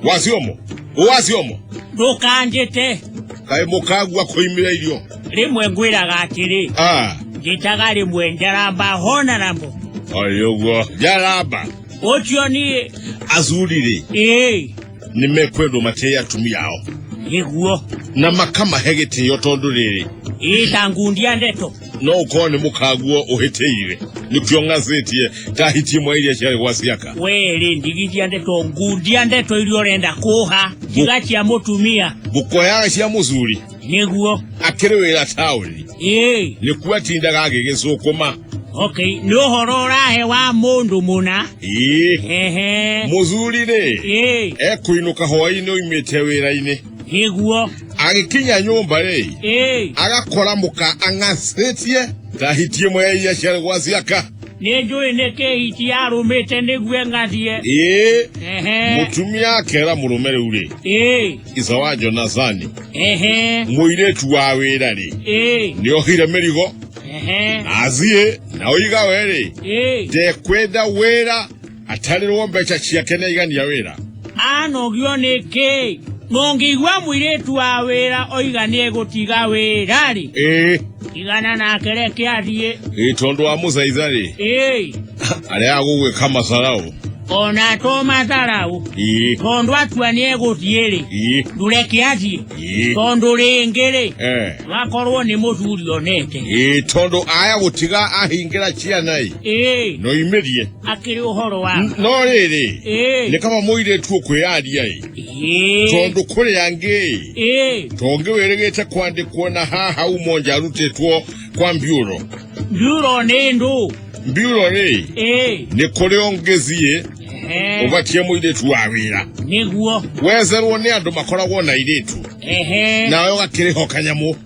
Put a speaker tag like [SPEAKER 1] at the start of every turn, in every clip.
[SPEAKER 1] wasiomo wasiomo ndũkanjĩte
[SPEAKER 2] kaĩ
[SPEAKER 1] mũkagua kũimĩra irio rĩmwe ngwĩraga
[SPEAKER 2] atĩrĩ Ah, njĩtaga rĩmwe njaramba hona namo oi ũguo
[SPEAKER 1] njaramba ũcio niĩ
[SPEAKER 2] athuri-rĩ
[SPEAKER 1] ĩĩ nĩ mekwendwo matĩe atumia ao nĩguo
[SPEAKER 2] na makamahe
[SPEAKER 1] gĩtĩo tondũ rĩrĩ ĩĩ ta ngundi ya
[SPEAKER 2] ndeto no ko ni
[SPEAKER 1] mukaguo uhitire nikyo ngazetie tahitie mwairia cia gwasiaka we ri ndigithia
[SPEAKER 2] ndeto ngundia ndeto iria urenda kuha tiga cia mutumia gukoyaga cia
[SPEAKER 1] muthuri niguo
[SPEAKER 2] akiri wira
[SPEAKER 1] tauni ii ni kuo atindaga agigicukuma okay ni
[SPEAKER 2] uhoro urahe wa mundu muna ii ehe muthuri
[SPEAKER 1] ri ii ekuinuka hwaini oimite wira-ini nĩguo
[SPEAKER 2] agĩkinya
[SPEAKER 1] nyũmba rĩ ĩĩ agakora mũka ang'acĩtie tahitie ĩmwe ya iria ciarĩ gwa ciaka nĩ njũĩ nĩ
[SPEAKER 2] kĩhiti yarũmĩte nĩguo ng'athiĩ ĩĩ ehe
[SPEAKER 1] mũtumia akera mũrũme rĩu rĩ ĩĩ ica wa jonathani ehe mũirĩtu wa wĩra rĩ ĩĩ nĩ ohire mĩrigo ehe athiĩ na ũiga we rĩ ĩĩ ndekwenda wĩra atarĩrwo mbeca ciake nĩ aigania wĩra anogio
[SPEAKER 2] nĩ kĩ mũngĩigua mũirĩtu wa wĩra oiga nĩ egũtiga wĩra rĩ ĩĩ tigana nake reke athiĩ ĩĩ tondũ wa mũthaitha
[SPEAKER 1] rĩ ĩĩ arĩa agũgwĩka matharaũ ona to
[SPEAKER 2] matharaũ ĩĩ tondũ atua nĩ egũthiĩ rĩ ĩĩ ndũreke athiĩ ĩĩ tondũ rĩngĩ rĩ Eh, wakorwo nĩ mũthuri onete ĩĩ tondũ aya
[SPEAKER 1] gũtiga ahingĩra ciana ĩ ĩĩ noimerie akĩrĩ
[SPEAKER 2] ũhoro wa no rĩrĩ Ĩĩ.
[SPEAKER 1] nĩ kaba mũirĩtu ũkwĩyaria ĩ Ĩĩ. tondũ kũrĩ angĩ Ĩĩ. tongĩ wĩrĩgĩte kwandĩkwo na haha umo nja arutĩtwo kwa mbiũro nduro nĩ
[SPEAKER 2] ndũ mbiũro rĩ
[SPEAKER 1] Ĩĩ. nĩ kũrĩ ũngĩthiĩ Ehe. ũbatie mũirĩtu wa wĩra nĩguo
[SPEAKER 2] wezerwo nĩ andũ
[SPEAKER 1] makoragwo na irĩtu Ehe. nawe ũgakĩrĩho kanyamũ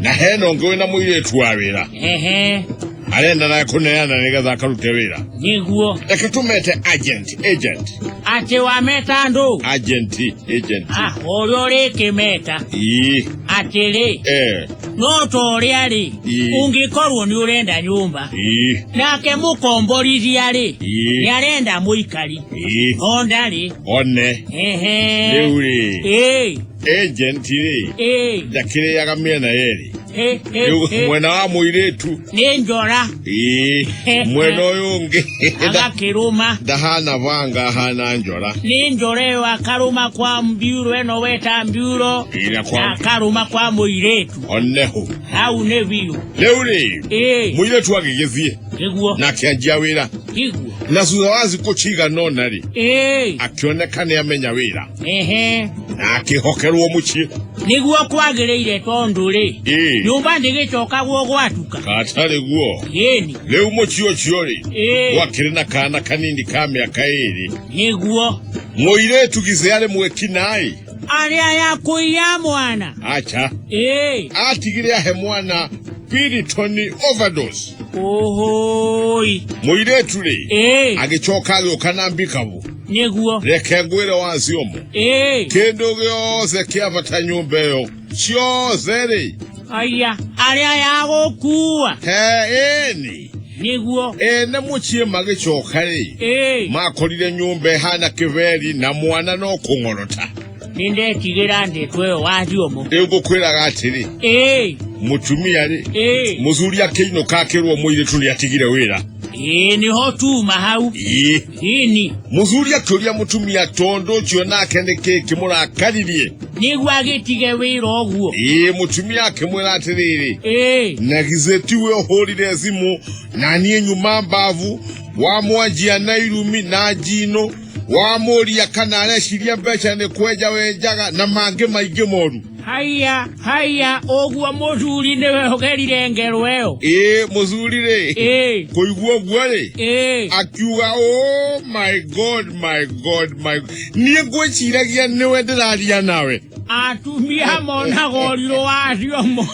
[SPEAKER 2] na hena
[SPEAKER 1] ũngĩ wĩna mũirĩtu wa wĩra ehe arenda naye kũneana nĩgetha akarute wĩra nĩguo reke
[SPEAKER 2] tũmete
[SPEAKER 1] agent agent atĩ
[SPEAKER 2] wameta andũ agent agent
[SPEAKER 1] Ah, ũrĩa
[SPEAKER 2] ũrĩkĩmeta ii atĩrĩ eh no ta ũrĩa-rĩ Ii. ũngĩkorwo nĩ ũrenda nyũmba ii nake mũkomborithia-rĩ Ii. nĩ arenda mũikari ii onda-rĩ one
[SPEAKER 1] ehe rĩu rĩ ĩĩ e gentiri Ee, ndakĩrĩaga mĩena yerĩ he, he, Rĩu he. mwena wa mũirĩtu Nĩ njora
[SPEAKER 2] ĩĩ, He,
[SPEAKER 1] mwena he. ũyũ ũngĩ nda- agakĩrũma.
[SPEAKER 2] ndahana banga
[SPEAKER 1] ahana njora Nĩ njora ĩyo
[SPEAKER 2] akarũma kwa mbiuro ĩno weta mbiuro Ĩrĩa na kwa akarũma kwa mũirĩtu. oneho
[SPEAKER 1] Hau nĩ biũ.
[SPEAKER 2] rĩu rĩ
[SPEAKER 1] Ee, mũirĩtu agĩgĩthiĩ nĩguo, na akĩanjia
[SPEAKER 2] wĩra
[SPEAKER 1] nĩguo. na thutha
[SPEAKER 2] wa thikũ
[SPEAKER 1] cigana ũna rĩ Ee, akĩoneka nĩ amenya wĩra ehe na akĩhokerwo mũciĩ nĩguo kwagĩrĩire
[SPEAKER 2] tondũ rĩ Ĩĩ. nyũmba ndĩgĩcokagwo gwatuka katarĩ guo
[SPEAKER 1] yĩni rĩu mũciĩ ũcio rĩ Ĩĩ. gwakĩrĩ na kana kanini ka mĩaka ĩĩrĩ nĩguo
[SPEAKER 2] mũirĩtu
[SPEAKER 1] githĩ arĩ mwĩkinaĩ arĩa
[SPEAKER 2] yakũiya mwana acha ĩĩ
[SPEAKER 1] atigire ahe mwana piritoni overdose ũhũi
[SPEAKER 2] mũirĩtu
[SPEAKER 1] rĩ ĩĩ agĩcoka agĩũka na mbikabu nĩguo reke
[SPEAKER 2] ngwĩre
[SPEAKER 1] waciomũ ĩĩ kĩndũ gĩothe kĩabata nyũmba ĩyo ciothe rĩ aya
[SPEAKER 2] arĩa ya gũkua he ĩni
[SPEAKER 1] nĩguo
[SPEAKER 2] ene mũciĩ
[SPEAKER 1] magĩcoka rĩ ĩĩ makorire nyũmba ĩhana kĩberi na mwana no kũng'orota nĩndetigĩra
[SPEAKER 2] ndĩko ĩyo waciomũ rĩu ngũkwĩraga atĩrĩ
[SPEAKER 1] ĩĩ mũtumia rĩ ĩĩ mũthuri akĩinũka akĩrwo mũirĩtu nĩ atigire wĩra ĩĩ nĩho
[SPEAKER 2] tuma hau ii ĩni mũthuri akĩũria
[SPEAKER 1] mũtumia tondũ ũcio nake nĩkĩ kĩmũrakaririe nĩguo agĩtige
[SPEAKER 2] wĩra ũguo ĩĩ mũtumia akĩmwĩra
[SPEAKER 1] atĩrĩrĩ ĩĩ na githĩ tiwe ũhũrire thimũ na niĩ nyuma mbavu wamwanjia na irumi na njino wamũria kana areciria mbeca nĩ kwenja wenjaga na mangĩ maingĩ moru haya haya ũguo
[SPEAKER 2] mũthuri nĩwe ũgerire ngerwo ĩyo ĩĩ mũthuri rĩ
[SPEAKER 1] ĩĩ kũigua ũguo rĩ ĩĩ akiuga oh my god my god my niĩ ngwĩciragia nĩwe ndĩraria nawe
[SPEAKER 2] atumia monaga ũrirũ wacio mo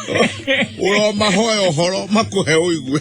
[SPEAKER 2] ũromahoya
[SPEAKER 1] ũhoro makũhe ũigue